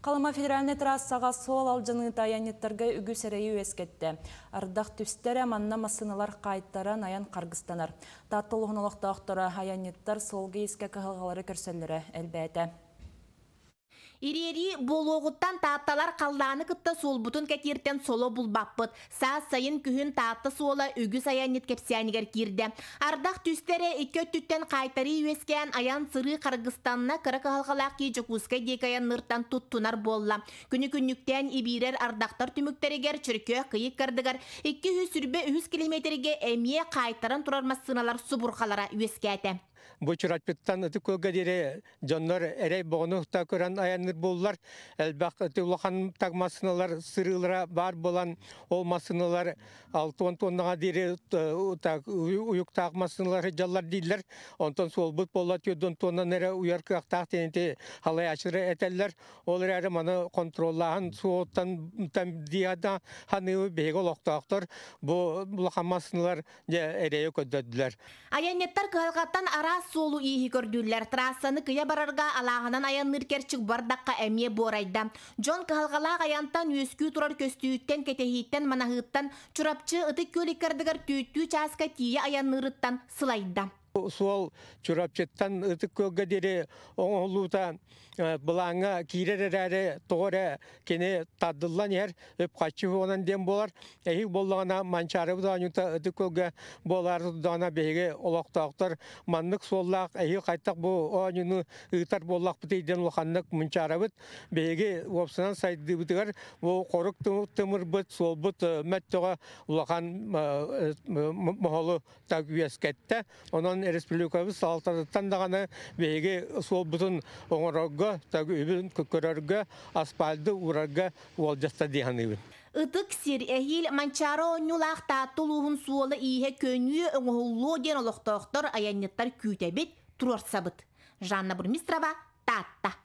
Халыма федеральнай трассаҕа суол алдьаныыта айанньыттарга үгүс эрэйи үөскэттэ. Ардах түстэрэ, манна массыыналар хаайтаран, айан харгыстанар. Таатта улууһун олохтоохторо айанньыттар суолга иискэ кыһалҕалары көрсөллөрө элбээтэ. Ириэрии буолуоҕуттан Таатталар халлааны кытта суолбутун кэтииртэн соло булбаппыт. Саас сайын күһүн Таатта суола үгүс айанньыт кэпсээнигэр киирдэ. Ардах түстэрэ икки өттүттэн хаайтарыы үөскээн айан-сырыы харгыстанна, кыра кыһалҕалаах киһи Дьокуускай диэки айанныыртан туттунар буолла. Күнү-күннүктээн ибиирэр ардахтар түмүктэригэр Чөркөөх кыйык кардыгар икки үс сүүрбэ үһүс километргэ эмиэ хаайтаран турар массыыналар субурхалара үөскээтэ. Бучурачпыттан ытык кылга диэри дьоннор эрэй боҕону та көрөн айанныр буллар. Элбэх ыты улахан так массыналар сырыылара баар болан, ол массыналар алты он тоннаға диэри так уйуктаах массыналары дьаллар дииллэр. Онтон суолбут болла түөрдөн тоннаны эрэ уйар кыахтаах тенити халайачыра этэллэр. Ол эрээри маны контроллааһын суоттан диада ханыыбы биһиги олохтоохтор бу улахан массыналар эрэйи көрдөрдүлэр. Айанньыттар кыһалҕаттан араас суолу-ииһи көрдүүллэр. Трассаны кыйа барарга алааһынан айанныыр керчик бардахха эмиэ буорайда. Дьон кыһалҕалаах айантан үөскүү турар көстүүттэн, кэтэһииттэн, манаһыыттан Чурапчы ытык күөлик кардыгар түүттүү чааска тиийэ айанныырыттан сылайда. Суол Чурапчыттан Ытык Күөлгэ диэри оҥоһуллуута былааҥҥа киирэр эрээри, тоҕо эрэ кини тардыллан иһэр, үп-харчы уонан диэн буолар. Эһиги буоллаҕына, Манчаарыбыт оонньуута Ытык Күөлгэ буолаары турдаҕына, биһиги олохтоохтор маннык суоллаах эһиги хайдах бу оонньууну ыытар буоллахпытый диэн улаханнык мунчаарабыт. Биһиги уопсанан сайдыыбытыгар бу хорук тымырбыт, суолбут мөттөҕө улахан моһолу так үөскэттэ. Онон республикабыт салалтатыттан даҕаны биһиги суолбутун оҥорорго, так үбүн көрөргө, асфальты уурарга уолдьатта дии саныыбын. Ытык сир, эһиил Манчаары оонньуулаах Таатта улууһун суола-ииһэ көньүү оҥоһуллуо диэн олохтоохтор, айанньыттар күүтэбит, туруорсабыт. Жанна Бурмистрова, Таатта.